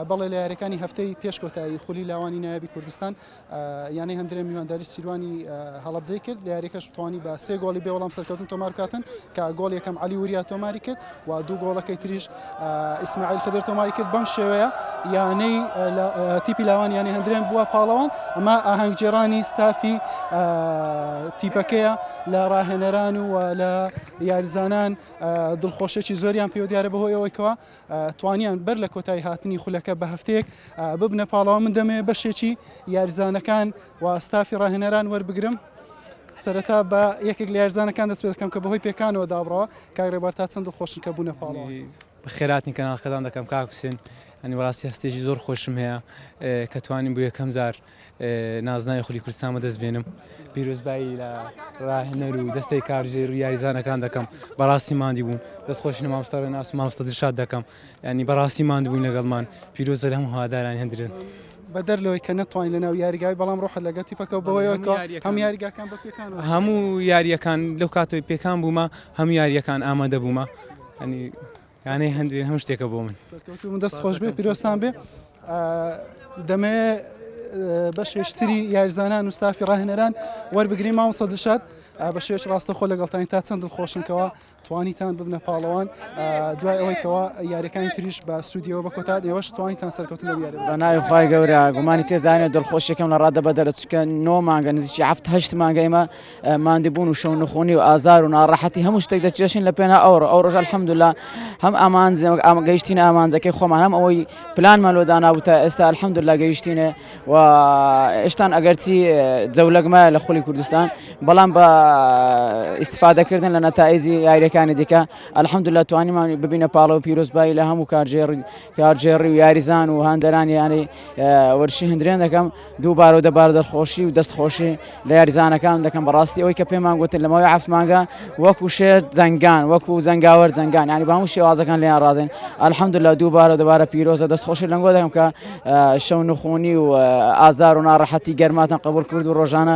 بەڵێ لە یاریەکانی هەفتەی پێش کۆتایی خولی لاوانی نایابی کوردستان یانەی هەندرێن میوانداری سیروانی هەڵبجەی کرد لە یاریەکەش توانی بە سێ گۆڵی بێ وەڵام سەرکەوتن تۆمارکاتن کە گۆڵ یەکەم علی وریا تۆماری کرد و دوو گۆڵەکەی تریش ئیسماعیل خدر تۆماری کرد بەم شێوەیە یانەی تیپی لاوان یانەی هەندرێن بووە پاڵەوان ئەمە ئاهەنگجێرانی ستافی تیپەکەیە لە ڕاهێنەران و لە یاریزانان دڵخۆشێکی زۆریان پێ دیارە بەهۆیەوەیکەوە توانیان بەر لە کۆتایی هاتنی خولەکە بە هەفتەیەک ببنە پاڵاو من دەمەوێت بەشێکی یاریزانەکان و ستافی ڕاهێنەران وەربگرم سەرەتا بە یەکێک لە یارزانەکان دەست پێ دەکەم کە بەهۆی پێکانەوە دابڕەوە کاگرێبار تا چەند خۆشن کە بوونە پاڵی خێراتنی کەناڵکەدان دەکەم کاکوسێن ئەنی بەڕاستی هەستێکی زۆر خۆشم هەیە کە توانین بۆ یەکەم زار نازناوی خولی کوردستان بەدەست بێنم پیرۆزبایی لە ڕاهێنەر و دەستەی کارژێر و یاریزانەکان دەکەم بەڕاستی مادی بوون دەست خۆش مامۆستا ڕێناس و مامۆستا دڵشاد دەکەم ینی بەڕاستی ماند بوون لەگەڵمان پیرۆزە لە هەموو هاداران هەندرێت بەدەر لەوەی کە نەتوانین لەناو یاریگای بەڵام ڕۆحت لەگە تیپەکە بەوەیەوە کە هەم یاریگاکان بە پێکان هەموو یاریەکان لەو کاتۆی پێکان بوومە هەموو یاریەکان ئامادە بوومە ینی یانەی هەندرین هەموو شتێکە بۆ من سەرکەوتوو بن دەست خۆش بێ پیرۆستان بێ دەمێ بەشێشتری یارزانان و ستافی ڕاهێنەران وەربگری ماوە سە دشاد بە شێش ڕاستەخۆ لەگەڵتانی تا چەند دڵخۆشنکەوە توانیتان ببنە پاڵەوان دوای ئەوەیکەوە یاریەکانی تریش بە سوودیەوە بە کۆتا ئێوەش توانیتان سەرکەوتن یاری بە ناوی خخوای گەورە گومانی تێدانێت دڵخۆشیەکەم لە ڕادە بەدەرە چکە نۆ مانگە نزیکی هەفتهشت مانگە ئێمە ماندوبون و شەو نخونی و ئازار و ناڕەحەتی هەموو شتێک دەچێشین لە پێنا ئەوڕۆ ئەو ڕۆژە الحمدللە هەم ئامانج ئامانج گەیشتینە ئامانجەکەی خۆمان هەم ئەوەی پلانمان لۆ دانابوو تا ئێستا الحمدللە گەیشتینێ و ئێشتان ئەگەرچی جەولەک مایە لە خولی کوردستان بەڵام بە ئیستفادەکردن لە نەتائجی یاریەکانی دیکە الحمدللە توانیمان ببینە پاڵەوە پیرۆزبایی لە هەموو کارژێڕ کارگێڕی و یاریزان و هاندەرانی یانەی وەرشی هەندرێن دەکەم دوو بار و دەبار دەرخۆشی و دەست خۆشی لە یاریزانەکان دەکەم بەڕاستی ئەوی کە پێمان گوتن لەمەوەی عفمانگە وەکو شێت جەنگان وەکو زەنگاوەر جەنگان ینی بە هەموو شێوازەکان لێیان ڕازێن ئەلحەمد لە دوو بارە دەبارە پیرۆزە دەست خۆشی لەنگۆ دەکەم کە شەو نخۆنی و ئازار و ناڕەحەتی گەرماتان قبول کرد و ڕۆژانە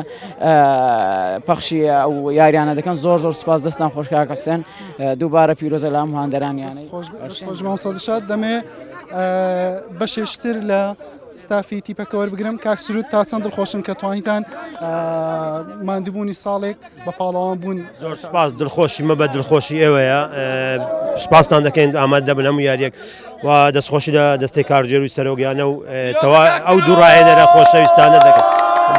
پەخشی ئەو یاریانە دەکەن زۆر زۆر سپاس دەستان خۆشکە حسێن دووبارە پیرۆزە لە هەموو هاندەرانیانەی خۆش مامۆستا دڵشاد دەمێ بەشێشتر لە ستافی تیپەکە وەربگرم کاک سرود تا چەند دڵخۆشن کە توانیتان مادبوونی ساڵێک بە پاڵەوان بوون زۆر سپاس دڵخۆشی مە بە دڵخۆشی ئێوەیە سپاستان دەکەین ئاماد دەبن هەموو یاریەک و دەستخۆشی لە دەستی کارجێر و سەرۆگیانە و تەوا ئەو دوو ڕایەنەرە خۆشەویستانە دەکەن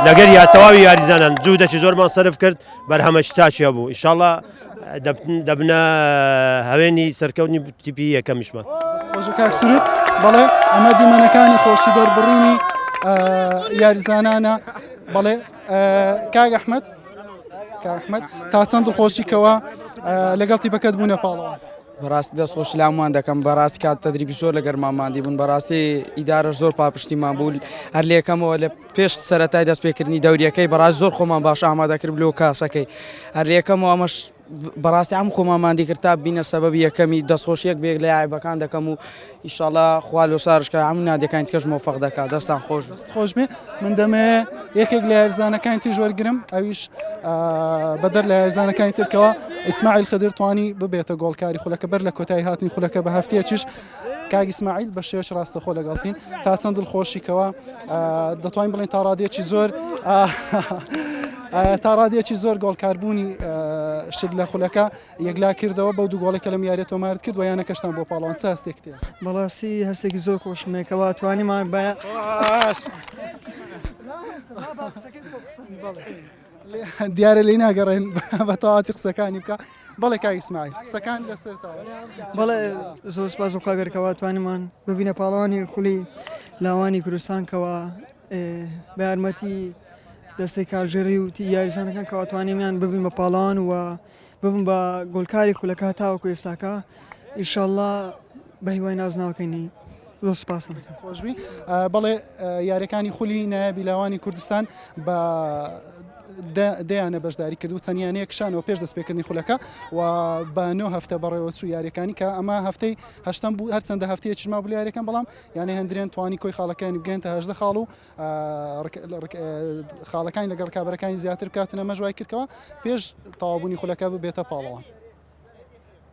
لەگەر یا تەواوی یاریزانان جوو دەچی زۆرمان سرف کرد بەرهەمەش چاچە بوو ئیشاڵە دەبنە هەوێنی سەرکەونی تیپی یەکەمیشمان کاکسرت بەڵێ ئەمە دیمەنەکانی خۆشی دەربڕینی یاریزانانە بەڵێ کاگ ئەحمد کاحمد تا چەند خۆشی کەەوە لەگەڵ تیپەکەت بوونە پاڵەوە بەڕاستی دەست خۆش لامان دەکەم بەڕاستی کات تەدریبی زۆر لەگەرمانماندی بوون بەڕاستی ئیدارە زۆر پاپشتیمان بوو هەر لەکەمەوە لە پێش سەرەتای دەست پێکردنی دەوریەکەی بەڕاست زۆر خۆمان باش ئامادە کرد لۆ کاسەکەی هەر یەکەم و ئەمەش بەڕاستی ئەم خۆمان مادی کرد تا بینە سەبەبی یەکەمی دەستخۆشیەک بێک لە یاعیبەکان دەکەم و ئیشاڵا خوا لۆ سارشکە ئەم نادەکانی کەش مۆفق دەکات دەستان خۆش خۆش بێ من دەمێ یەکێک لە هەرزانەکانی تیژ وەرگرم ئەویش بەدەر لە هەرزانەکانی ترکەوە ئیسماعیل خدرتوانی ببێتە گۆڵکاری خولەکە بەر لە کۆتایی هاتنی خولەکە بە هەفتەیەکیش کاک ئیسماعیل بە شێوەیەکی ڕاستەخۆ لەگەڵتین تا چەند دڵخۆشی کەوە دەتوانین بڵێن تا ڕادێکی زۆر تا ڕادێکی زۆر گۆڵکاربوونی شت لە خولەکە یەکلا کردەوە بەو دوو گۆڵێکە لەم یاریێت تۆمارت کرد ویانە کەشتان بۆ پاڵان چ هەستێک تێ بەڵاستی هەستێکی زۆر خۆشمێکەوە توانیمان بە دیارە لێی ناگەڕێن بە تەواتی قسەکانی بکە بەڵێ کاک ئیسماعیل قسەکان لەسەرتەوە بەڵێ زۆر سپاس بۆ خواگەرکەوە توانمان ببینە پاڵەوانی خولی لاوانی کوردستان کەوە بە یارمەتی دەستەی کارژێری و یاریزانەکان کەواتوانێمیان ببین بە پاڵان و ببم بە گۆلکاری خولەکە تاوەکو ئێستاکە ئیشەڵا بەهیوای نازناوەکەنی زۆر سپاس خۆشبی بەڵێ یاریەکانی خولی نایابی لاوانی کوردستان بە دەیانە بەشداری کرد و چەندیانەیە کشانەوە پێش دەستپێکردنی خولەکە و بە نۆ هەفتە بەڕێوە چوو یاریەکانی کە ئەمە هەفتەی هەشتم بوو هەرچەندە هەفتەیە چما بلیارەکەم بەڵام یانە هەندرێن توانی کۆی خاڵەکانی بگەێنتە هەشدە خاڵ و خاڵەکانی لەگەڵ ڕکابەرەکانی زیاتر بکاتن ئەمەش وای کردکەوە پێش تەواوبوونی خولەکە ببێتە پاڵەوان.